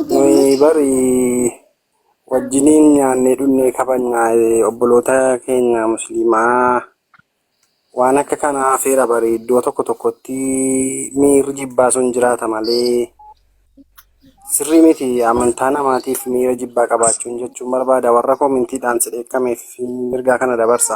nuyi bari wajjiniin nyaannee dhunnee kabajnaa eh, obboloota keenya musliimaa waan akka kanaa hafeera bari iddoo tokko tokkotti miirri jibbaa sun jiraata malee sirrii miti amantaa namaatiif miira jibbaa qabaachuun jechuun barbaada warra koomintiidhaan si dheekkameef mirgaa kana dabarsa.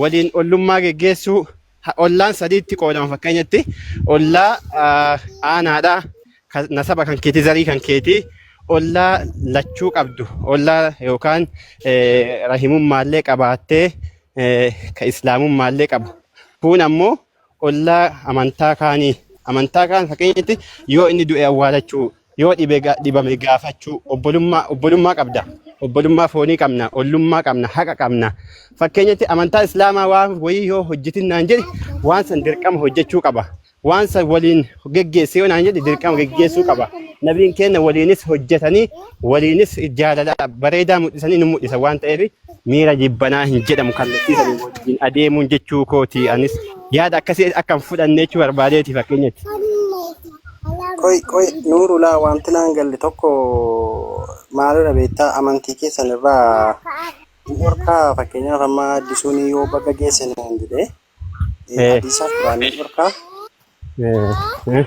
waliin ollummaa geggeessuu ha- ollaan sadiitti qoodama fakkeenyatti ollaa ah, aanaadha kan nasaba kan keetii zarii kan keetii ollaa lachuu qabdu ollaa yookaan eh, rahimummaallee qabaattee eh, ka islaamummaallee qabu kun ammoo ollaa amantaa kaanii amantaa kaan fakkeenyatti yoo inni du'e awwaalachuu yoo dhibe ga- dhibame gaafachuu obbolummaa obbolummaa qabda obbolummaa foonii qabna ollummaa qabna haqa qabna fakkeenyatti amantaa islaamaa waan wayii yoo hojjetin naan jedhe waan san dirqama hojjechuu qaba waan san waliin geggeesse yoo naan jedhe dirqama geggeessuu qaba nabiin keenya waliinis hojjetanii waliinis jaalala bareedaa mul'isanii nu mul'isa waan ta'eef miira jibbanaa hin jedhamu kallattii sanii wajjin adeemuun jechuu kooti anis yaada akkasii akka hin fudhanne jechuu barbaadeeti fakkeenyatti. Qoy qoy nuurulaa wanti naan galle tokko maalidha beektaa amantii keessan irraa hin dhorkaa fakkeenyaaf amma addisuun yoo baga geesse naan jedhee Eh, addisaaf duraan ni dhorkaa eh, eh.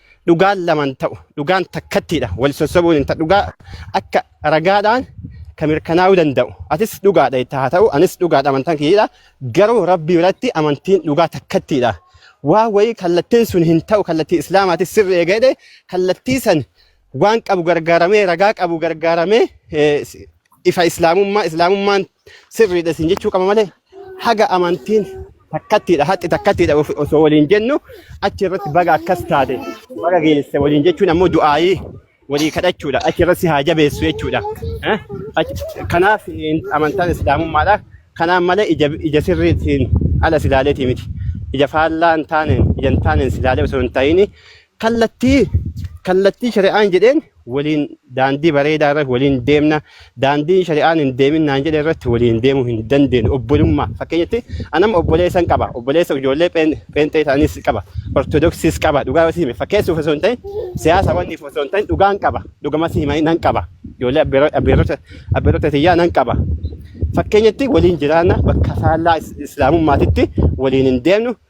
dhugaan laman ta'u dhugaan takkattiidha wal sossobuun hin ta'u dhugaa akka ragaadhaan kan mirkanaa'uu danda'u atis dhugaadha itti haa ta'u anis dhugaadha amantaan kiyyaadha garuu rabbi biratti amantiin dhugaa takkattiidha waa wayii kallattiin sun hin ta'u kallattii islaamaatis sirri eegadhe kallattii san waan qabu gargaaramee ragaa qabu gargaaramee eh, ifa islaamummaa islaamummaan sirriidha isin jechuu qaba malee haga amantiin takkattiidha haxxi takkattiidha of- osoo waliin jennu achi irratti baga akkas taate baga geesse waliin jechuun ammoo du'aayii walii kadhachuudha achi irratti si haa jabeessu jechuudha Eh? Achi- kanaaf eh, amantaan islaamummaadha kanaan malee ija ija sirriitiin ala silaaleetii miti ija faallaa hin taaneen ija hin taaneen silaalee osoo hin ta'iin kallattii kallattii shari'aan jedheen waliin daandii bareedaa irratti waliin deemna daandiin shari'aan hin deemin naan jedhe irratti waliin deemuu hin dandeenyu obbolummaa fakkeenyatti anam obboleessan qaba obboleessa ijoollee pheen- pheenxee ta'anis qaba ortodoksiis qaba dhugaa yoo si hime fakkeessuuf osoo hin ta'in siyaasa wanniif osoo hin ta'in dhugaan qaba dhugama si himanii nan qaba ijoollee abbeero- abbeerota abbeerota tiyyaa nan qaba fakkeenyatti waliin jiraanna bakka faallaa is- islaamummaatitti waliin hin deemnu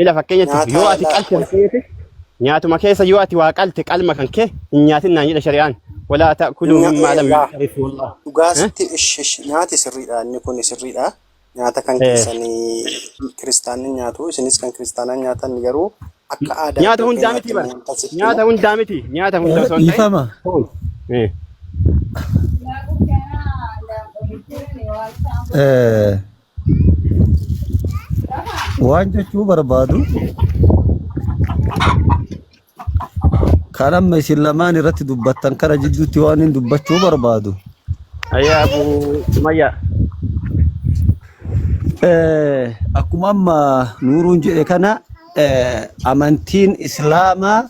Ila fakkeenyatti yoo Nyaataa ati laa qalte gosa. fakkeenyatti nyaatuma keessa yoo ati waa qalte qalma kan kee hin nyaatin naan jedha shari'aan. Walaa ta'kuluu Nya- mimmaa lam laa. yuxarif wallah. Dhugaa Eh? sitti ish ish nyaati sirriidha inni kun sirriidha. Nyaata kan Eh. keessanii kiristaanni nyaatu isinis kan kiristaanaa nyaatan garuu akka aadaa Nyaata iddoo hundaa keenyaatti miti bara. immoo wanta sitti Nyaata himu hundaa miti. Nyaata hundaa osoo hin ta'in. Dhiifama. foon. Eh. Eh, Waan jechuu barbaadu kan amma isin lamaan irratti dubbattan kana jidduutti waan hin dubbachuu barbaadu. Ayyaa Abu Sumayyaa. Eh, Akkuma amma nuuruun jedhe kana eh, amantiin islaamaa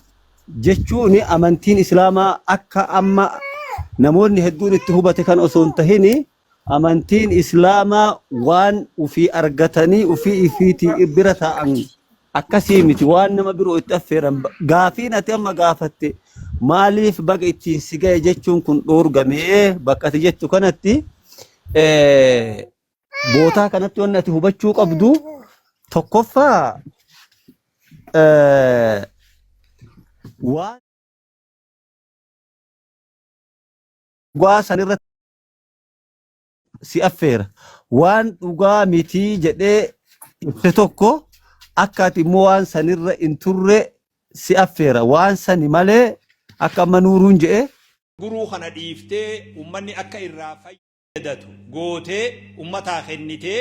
jechuun amantiin islaamaa akka amma namoonni hedduun itti hubate kan osoo hin tahini Amantiin islaamaa waan ufii argatanii ufii ifiitii bira taa'an akkasii miti waan nama biroo itti affeeran Ba- gaafiin ati amma gaafatte maaliif baga ittiin si ga'e jechuun kun dhoorgamee bakka ati jettu kanatti eh, bootaa kanatti wanni ati hubachuu qabdu tokkoffaa eh, waan dhugaa sanirratti si affeera. Waan dhugaa mitii jedhee ibse tokko akka ati immoo waan sanirra hin turre si affeera. Waan sani malee akka amma nuuruun jedhe guruu kana dhiiftee ummanni akka irraa fayyadatu gootee ummataa kennitee.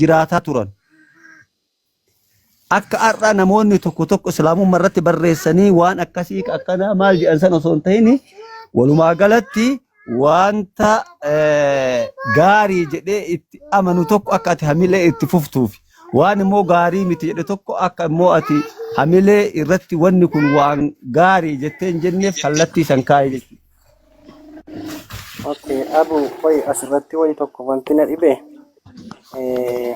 jiraataa turan. Akka har'a namoonni tokko tokko islaamummaa irratti barreessanii waan akkasii akkanaa maal jedhan san osoo hin ta'in walumaa galatti wanta eh, gaarii jedhee itti amanu tokko akka ati hamilee itti fuftuuf waan immoo gaarii miti jedhe tokko akka immoo ati hamilee irratti wanni kun waan gaarii jettee hin jenneef kallattii san kaa'e jechuudha. Okay, abu qoy asirratti wayi tokko wanti na dhibe eh,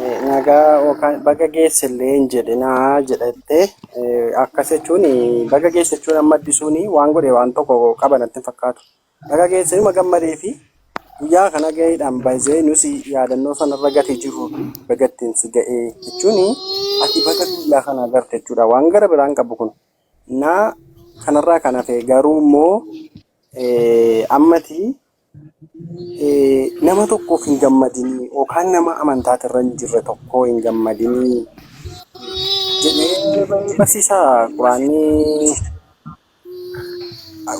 eh, nagaa yookaan baga geesse illee hin jedhe naa jedhatte eh, akkas jechuun baga geesse jechuun amma addisuun waan godhe waan tokko qaba natti hin fakkaatu. Baga geesse numa gammadee fi guyyaa kana gaheedhaan baay'ee nusi yaadannoo sanarra gatee jiru bagattiin si ga'ee jechuun ati baga guyyaa kana garte jechuudha waan gara biraan qabu kun. Naa kanarraa kan hafe garuu immoo ammati nama tokkoof hin gammadinii yookaan nama amantaati irra hin jirre tokkoo hin gammadinii jedhee barsiisaa quraannii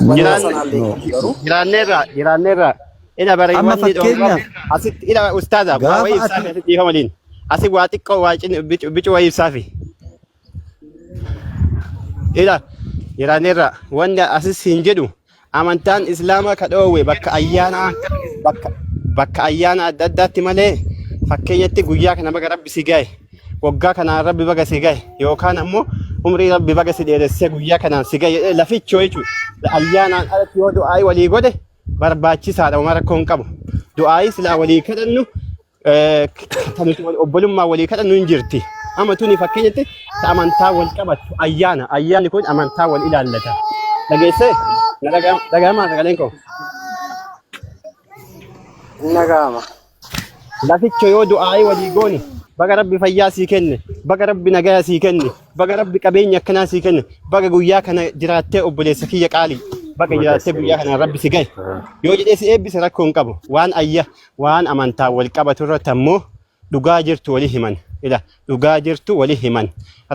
wanna sanaan beekamu garuu Jiraanneerra jiraanneerra ila bari Amma wanni dhoorgamu fakkeenyaaf asitti ila ustaaza waa gaafa wayii ati ibsaafi asitti dhiifa waliin asi waa xiqqoo waa bicuu wayii ibsaafi. ila iraaneerra wanni asis hin jedhu amantaan islaamaa ka dhoowwe bakka ayyaanaa bakka bakka ayyaana adda addaatti malee fakkeenyatti guyyaa kana baga rabbi si gahe waggaa kanaan rabbi baga si gahe yookaan ammoo umrii rabbi baga si dheeressee guyyaa kanaan si gahe jedhee lafichoo jechuudha ayyaanaan alatti yoo du'aa'ii walii godhe barbaachisaadha uma rakkoo hin qabu du'aa'ii silaa walii kadhannu Eh, kan nuti wal- obbolummaa walii kadhannu hin jirti. Amma tuni fakkeenyatti ta amantaa wal qabattu ayyaana. Ayyaanni kun amantaa wal ilaallata. Dhageessee? Na dhaga'ama dhaga'amaa sagaleen koo. Hin dhaga'ama. Laficho yoo du'aa'ee walii goone baga rabbi fayyaa sii kenne baga rabbi nagaya sii kenne baga rabbi qabeenya akkanaa sii kenne baga guyyaa kana jiraattee obboleessa kiyya qaalii baga Baga jiraattee sirrii guyyaa kana rabbi si gahe yoo jedhee si eebbise rakkoo hin qabu waan ayya waan amantaan wal qabatu irratti ammoo dhugaa jirtu wali himan ila dhugaa jirtu wali himan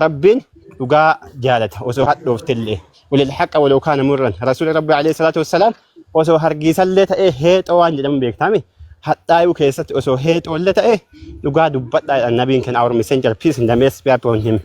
rabbiin dhugaa jaalata osoo hadhooftillee walil haqa waloo kaana murran rasuuli rabbi alayhi salaatu wassalaam osoo hargiisallee ta'ee heexoo waan jedhamu beektame hadhaayuu keessatti osoo heexoollee ta'ee dhugaa dubbadhaa jedhan nabiin keenya our messenger peace and the mess be upon him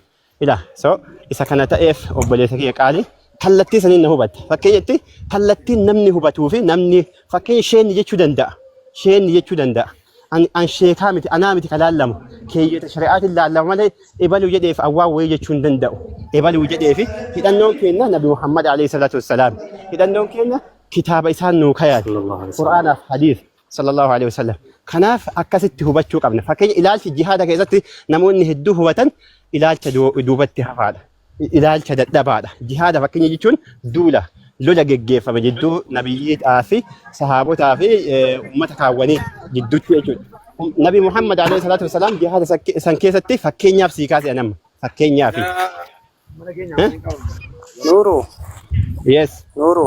Ila so isa kana ta'eef obboleessa kiyya qaali kallattii saniin na hubatte. Fakkeenyatti kallattiin namni hubatuu fi namni fakkeenya sheenni jechuu danda'a. Sheenni jechuu danda'a. An, an sheekaa miti, anaa miti kan laallamu. Keeyyata shari'aatiin laallama malee ebaluu jedheef awwaa wayii jechuu hin danda'u. Ebaluu jedheefi hidhannoon keenya Nabi Muhammad alayhi salaatu wassalaam. Hidhannoon keenya kitaaba isaan nuu kayaate. Sallallahu alaihi wasallam. Qur'aanaaf hadiis. sallallahu alaihi wasallam. Kanaaf akkasitti hubachuu qabna. Fakkeenya ilaalchi jihaada keessatti namoonni hedduu hubatan ilaalcha du- duubatti hafaadha. I- Ilaalcha dadhabaadha. Jihaada fakkeenya jechuun duula lola geggeeffame jidduu nabiyyiidhaa fi sahaabotaa fi eh, uummata kaawwanii jidduutti jechuudha. Um, Nabi Muhammad alaihi salaatu wasalaam jihaada san ke- san keessatti fakkeenyaaf sii kaase anamma. Fakkeenyaaf. Eh? Nuru, Yes. Nuru.